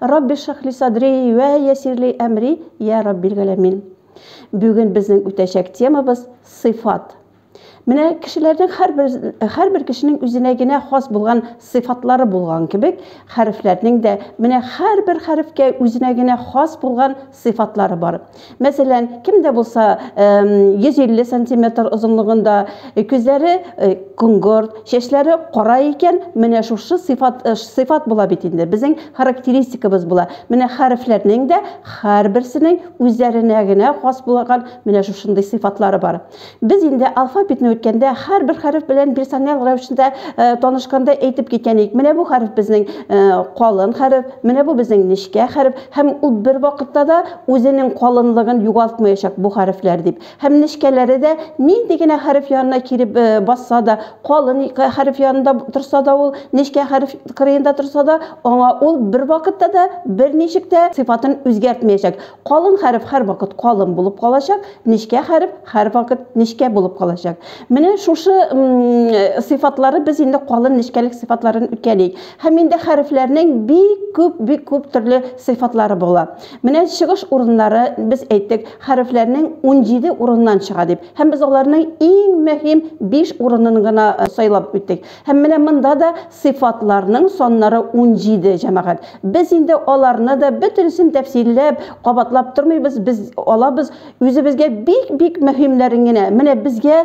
Рабби шахли садри вә ясирли әмри я Раббил галәмин. Бүген безнең үтәчәк темабыз сыйфат. Менә кешеләрнең һәрбер һәрбер кешенең үзенә генә хас булган сыйфатлары булган кебек, хәрефләрнең дә менә һәрбер хәрефкә үзенә генә хас булган сыйфатлары бар. Мәсәлән, кем дә булса 150 сантиметр озынлыгында, күзләре коңгырт, чәчләре кара икән, менә шушы сыйфат сыйфат була бит инде. Безнең характеристикабыз була. Менә хәрефләрнең дә һәрберсенең үзләренә генә хас булган менә шушындый сыйфатлары бар. Без инде алфавитны үткәндә, һәрбер хәреф белән персонал рәвешендә танышканда әйтеп киткән идек. Менә бу хәреф безнең калын хәреф, менә бу безнең нечкә хәреф һәм ул бервакытта да үзенең калынлыгын югалтмаячак бу хәрефләр дип. Һәм нечкәләре дә нинди генә хәреф янына килеп басса да, калын хәреф янында торса да ул, нечкә хәреф кырыенда торса да, аңа ул бервакытта да берничек тә сыйфатын үзгәртмәячәк. Калын хәреф һәрвакыт калын булып калачак, нечкә хәреф һәрвакыт нечкә булып калачак. Менә шушы сыйфатлары без инде калын нечкәлек сыйфатларын үткәлик. Һәм инде хәрефләрнең бик күп, бик күп төрле сыйфатлары була. Менә чыгыш урыннары без әйттек, хәрефләрнең 17 урыннан чыга дип. Һәм без аларның иң мөһим 5 урынын гына сайлап үттек. Һәм менә монда да сыйфатларның саннары унҗиде, җәмәгать. Без инде аларны да бөтенесен тәфсилләп, кабатлап тормыйбыз, без алабыз үзебезгә бик-бик мөһимнәрен генә. Менә безгә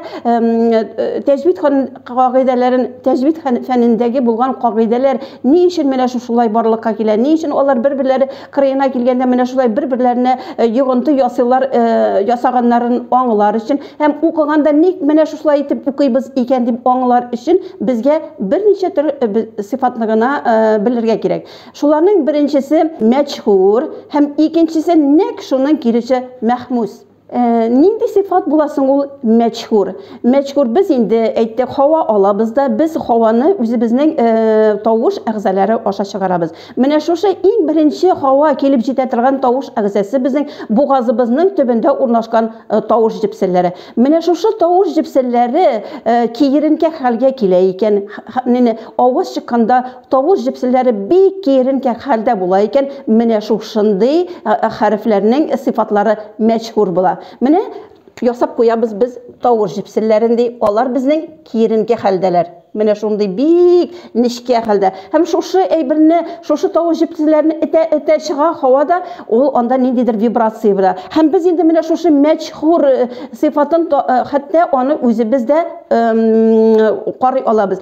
тәҗвид кагыйдәләрен, тәҗвид фәнендәге булган кагыйдәләр ни өчен менә шушылай барлыкка килә, ни өчен алар бер-берләре кырыена килгәндә менә шулай бер берләренә э, йогынты ясыйлар э, ясаганнарын аңлар өчен һәм укыганда ник менә шушылай итеп укыйбыз икән дип аңлар өчен безгә берничә төр э, сыйфатны гына белергә кирәк шуларның беренчесе мәчһүр һәм икенчесе нәкъ шуның киресе мәхмүс Э, нинди сыйфат була соң ул мәчһүр мәчһүр без инде әйттек һава алабыз да без һаваны үзебезнең э, тавыш әгъзалары аша чыгарабыз менә шушы иң беренче һава килеп җитә торган тавыш әгъзасы безнең бугазыбызның төбендә урнашкан э, тавыш җепселләре менә шушы тавыш җепселләре киеренке хәлгә килә икән авыз чыкканда Тавыш җепселләре бик киеренкә хәлдә була икән, менә шушындый хәрефләрнең сыйфатлары мәчһүр була. Менә ясап куябыз без тавыш җепселләрен, ди, алар безнең киеренкә хәлдәләр. Менә шундый бик нечкә хәлдә. Һәм шушы әйберне, шушы тавыш җепселләрне этә-этә чыга һавада, ул анда ниндидер вибрация була. Һәм без инде менә шушы мәчһүр сыйфатын, хәтта аны үзебез дә карый алабыз.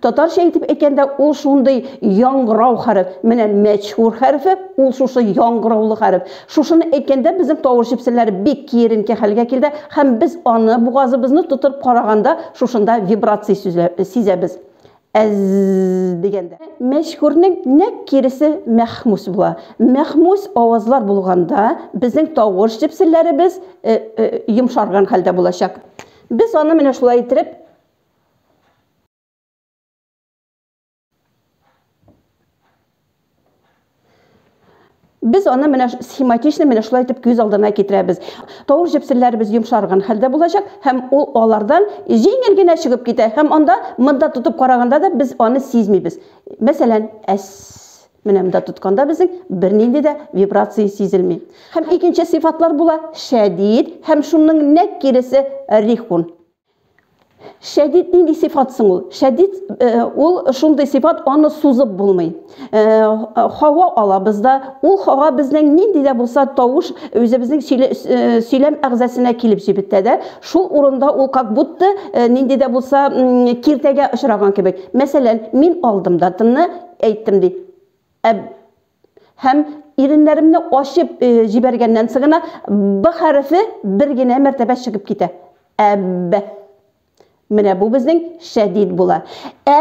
Татарча итеп әйткәндә, ул шундый яңгырау хәреф. Менә мәчхур хәрефе, ул шушы яңгыраулы хәреф. Шушыны әйткәндә безнең тавыш җепселәре бик киеренке хәлгә килде һәм без аны, бугазыбызны тотып караганда, шушында вибрация сизәбез. Әзззз дигәндә. Мәчхурның нәкъ киресе мәхмүс була. Мәхмүс авазлар булганда, безнең тавыш җепселләребез йомшарган хәлдә булачак. Без аны менә шулай иттереп, Без аны менә схематично менә шулай итеп күз алдына китерәбез. Тавыр җепсеннәребез йомшарган хәлдә булачак һәм ул алардан җиңел генә чыгып китә һәм анда монда тотып караганда да без аны сизмибез. Мәсәлән, әс менә монда тотканда безнең бернинди дә вибрация сизелми. Һәм икенче сыйфатлар була шәдид һәм шуның нәкъ киресе рихун. Шәдид нинди сифат соң ул? Шәдид ул шундый сифат, аны сузып булмый. Хава алабыз да, ул хава безнең нинди дә булса тавыш үзебезнең сөйләм әгъзасына килеп җибетә дә, шул урында ул как будто нинди дә булса киртәгә очраган кебек. Мәсәлән, мин алдым да тынны әйттем ди. Ә һәм иреннәремне ачып э, җибәргәннән соң гына б хәрефе бер генә мәртәбә чыгып китә. Әб. Менә бу безнең шәдид була. Ә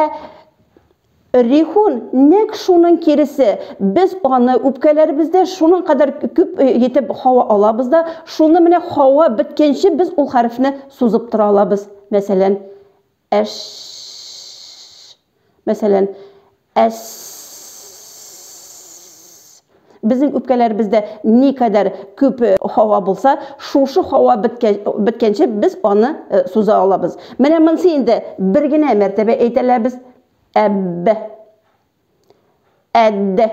Рихун нәк шуның киресе. Без аны үпкәләрбез дә, шуның кадәр күп етеп э, һава алабыз да, шуны менә һава биткәнче без ул хәрефне сузып тора алабыз. Мәсәлән, Әш. Мәсәлән, әс. Безнең үпкәләребездә ни кадәр күп һава булса, шушы һава беткәнче без аны суза алабыз. Менә монсы инде бер генә мәртәбә әйтәләбез, әб. Әддә.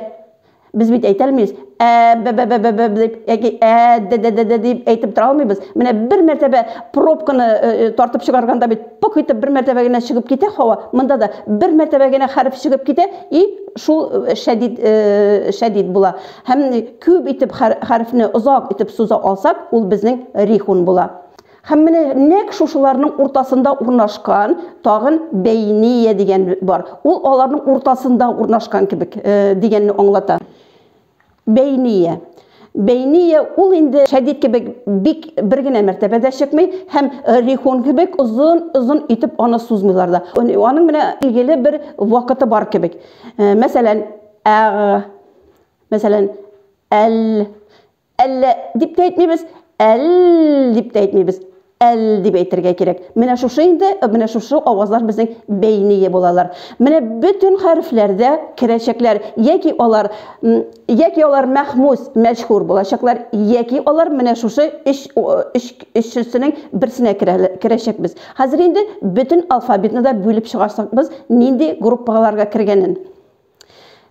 Без бит әйтә алмыйбыз. Ә-бә-бә-бә-бә дип, яки ә-дә-дә-дә-дә дип әйтеп тора алмыйбыз. Менә бер мәртәбә пробканы тартып чыгарганда бит пок итеп бер мәртәбә генә чыгып китә һава. Монда да бер мәртәбә генә хәреф чыгып китә и шул шәдид шәдид була. Һәм күп итеп хәрефне озак итеп суза алсак, ул безнең рихун була. Һәм менә нәкъ шушыларның уртасында урнашкан тагын бәйния дигән бар. Ул аларның уртасында урнашкан кебек дигәнне аңлата. Бәйния. Бәйния ул инде шәдид кебек бик бер генә мәртәбәдә чыкмый һәм рихун кебек озын-озын итеп аны сузмыйлар да. Аның менә билгеле бер вакыты бар кебек. Мәсәлән, әг, мәсәлән, әл, Әллә дип тә әйтмибез, әл дип тә әйтмибез. Әл дип әйтергә кирәк. Менә шушы инде, менә шушы авазлар безнең бәйние булалар. Менә бөтен хәрефләр дә керәчәкләр. Яки алар, яки алар мәхмүс, мәҗһүр булачаклар, яки алар менә шушы өч, өч, өчесенең берсенә керәчәкбез. Хәзер инде бөтен алфавитны да бүлеп чыгарсакбыз, нинди группаларга кергәнен.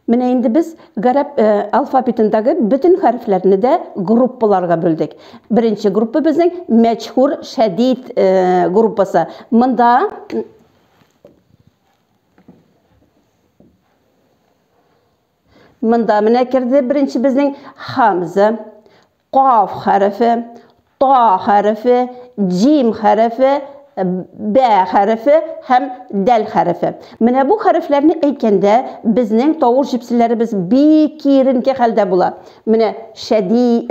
Менә инде без гарәп э, алфавитендәге бөтен хәрефләрне дә группаларга бүлдек. Беренче группа безнең мәчхур шәдид э, группасы. Монда Монда менә керде беренче безнең хамза, Каф хәрефе, та хәрефе, җим хәрефе, бә хәрефе һәм дәл хәрефе. Менә бу хәрефләрне әйткәндә, безнең тавыш җепселләребез бик киеренке хәлдә була. Менә шәди,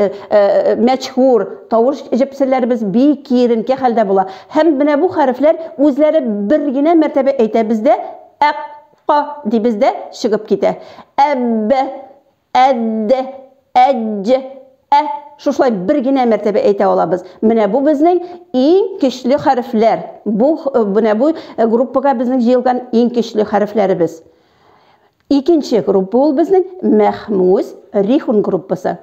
мәчһүр тавыш җепселләребез бик киеренке хәлдә була. Һәм менә бу хәрефләр үзләре бер генә мәртәбә әйтәбез дә, әк, ка дибез дә чыгып китә. Әб, әд, әдж, ә. Шушылай бер генә мәртәбә әйтә алабыз. Менә бу безнең иң көчле хәрефләр. Бу менә бу группага безнең җыелган иң көчле хәрефләребез. Икенче группа ул безнең мәхмүс рихун группасы.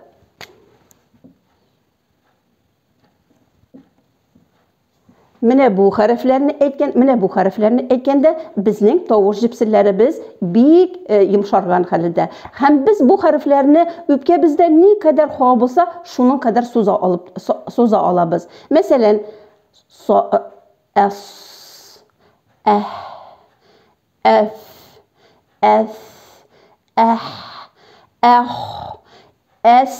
Менә бу хәрефләрне әйткән, менә бу хәрефләрне әйткәндә безнең тавыш җепселләребез бик э, йомшарган хәлдә. Һәм без бу хәрефләрне үпкә бездә ни кадәр хава булса, шуның кадәр суза алып суза алабыз. Мәсәлән, со э, әс әх әф әс әх әх әс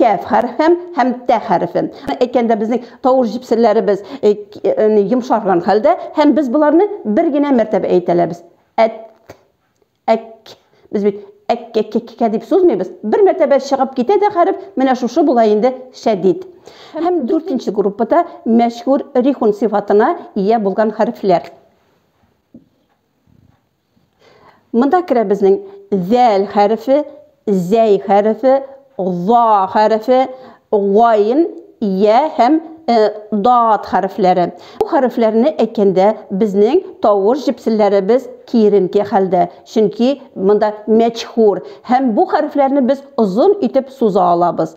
кәф хәрфем һәм тә хәрфем. Әйткәндә безнең тавыш җипсерләребез э, э, йомшарган хәлдә һәм без боларны бер генә мәртәбә әйтәләбез. Әт, әк. Без бит әк, әк, әк, әк дип сузмыйбыз. Бер мәртәбә чыгып китә дә хәреф, менә шушы була инде шәдид. Һәм дүртенче группада мәшһүр рихун сифатына ия булган хәрефләр. Монда керә безнең зәл хәрефе, зәй хәрефе, за хәрефе, гайм, я һәм э, дат хәрефләре. Бу хәрефләрне әйткәндә безнең тавыш җепселләребез киеренке хәлдә, чөнки монда мәчхур һәм бу хәрефләрне без озын итеп суза алабыз.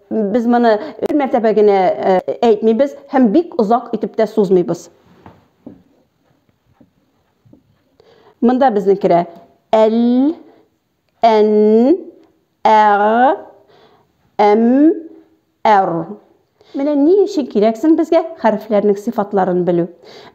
Без моны бер мәртәбә генә әйтмибез һәм бик озак итеп тә сузмыйбыз. Монда безнең керә әл, ән, әр, әм, әр. Менә ни өчен кирәксең безгә хәрефләрнең сыйфатларын белү.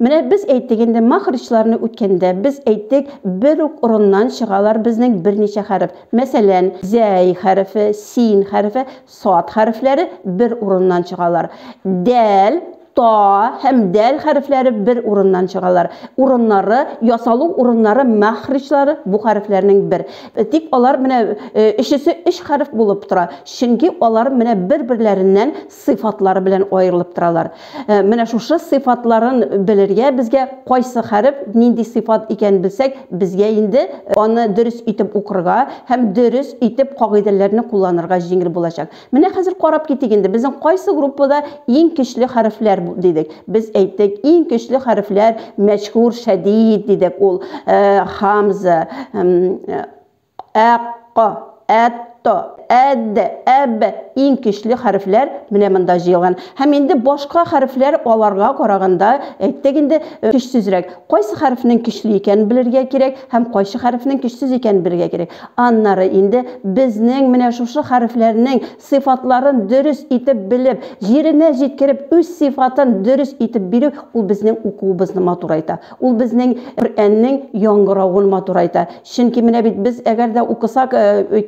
Менә без әйттек инде махричларны үткәндә без әйттек бер үк орыннан чыгалар безнең берничә хәреф. Мәсәлән, зәй хәрефе, син хәрефе, сад хәрефләре бер урыннан чыгалар. Дәл, та һәм дәл хәрефләре бер урыннан чыгалар. Урыннары, ясалу урыннары махричлары бу хәрефләрнең бер. Тик алар менә өчесе өч хәреф булып тора, чөнки алар менә бер-берләреннән сыйфатлары белән аерылып торалар. Э, менә шушы сыйфатларын белергә безгә кайсы хәреф нинди сыйфат икәнен белсәк, безгә инде э, аны дөрес итеп укырга һәм дөрес итеп кагыйдәләрне кулланырга җиңел булачак. Менә хәзер карап китик инде, безнең кайсы группада иң көчле хәрефләр дидек. Без әйттек, иң көчле хәрефләр мәшһүр, шәдид дидек. Ул э, хамза, Ә-ка, әт-та, әт-дә, әб-бә, иң көчле хәрефләр менә монда җыелган. Һәм инде башка хәрефләр аларга караганда, әйттек инде, көчсезрәк. Кайсы хәрефнең көчле икәнен белергә кирәк һәм кайсы хәрефнең көчсез икәнен белергә кирәк. Аннары инде безнең менә шушы хәрефләрнең Сыйфатларын дөрес итеп белеп, җиренә җиткереп, үз сыйфатын дөрес итеп бирү, ул безнең укуыбызны матурайта. Ул безнең Коръәннең яңгыравын матурайта. Чөнки менә бит без әгәр дә укысак,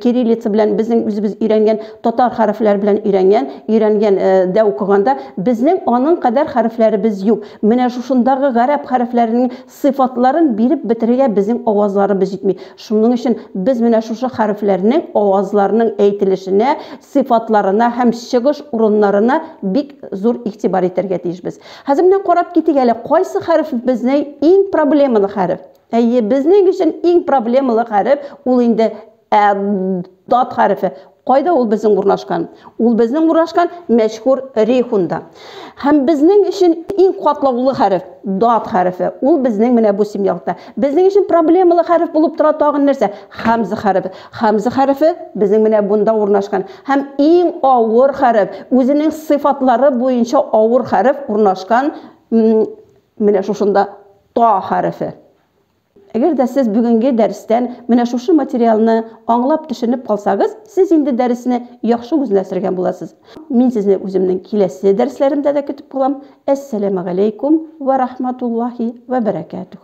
кириллица белән, безнең үзебез өйрәнгән татар хәрефләре белән өйрәнгән, өйрәнгән дә укыганда, безнең аның кадәр хәрефләребез юк. Менә шушындагы гарәп хәрефләренең Сыйфатларын биреп бетерергә безнең авазларыбыз җитми. Шуның өчен без менә шушы хәрефләрнең авазларның әйтелешенә, сыйфатларына һәм чыгыш урыннарына бик зур игътибар итәргә тиешбез. Хәзер менә карап китик әле, кайсы хәреф безнең иң проблемалы хәреф? Әйе, безнең өчен иң проблемалы хәреф ул инде Ә дат хәрефе кайда ул безнең урнашкан? Ул безнең урнашкан мәшһүр рейхунда. Һәм безнең өчен иң катлаулы хәреф дат хәрефе. Ул безнең менә бу символда. Безнең өчен проблемалы хәреф булып тора тагын нәрсә? Хамза хәрефе. Хамза хәрефе безнең менә бунда урнашкан. Һәм иң авыр хәреф, үзенең сыйфатлары буенча авыр хәреф урнашкан менә шушында та хәрефе. Әгәр дә сез бүгенге дәрестән менә шушы материалны аңлап, төшенеп калсагыз, сез инде дәресне яхшы үзләшергән буласыз. Мин сезне үземнең киләсе дәресләремдә дә көтеп калам. Әссәләмәгаләйкүм вә рахматуллаһи вә бәрәкәтүһ.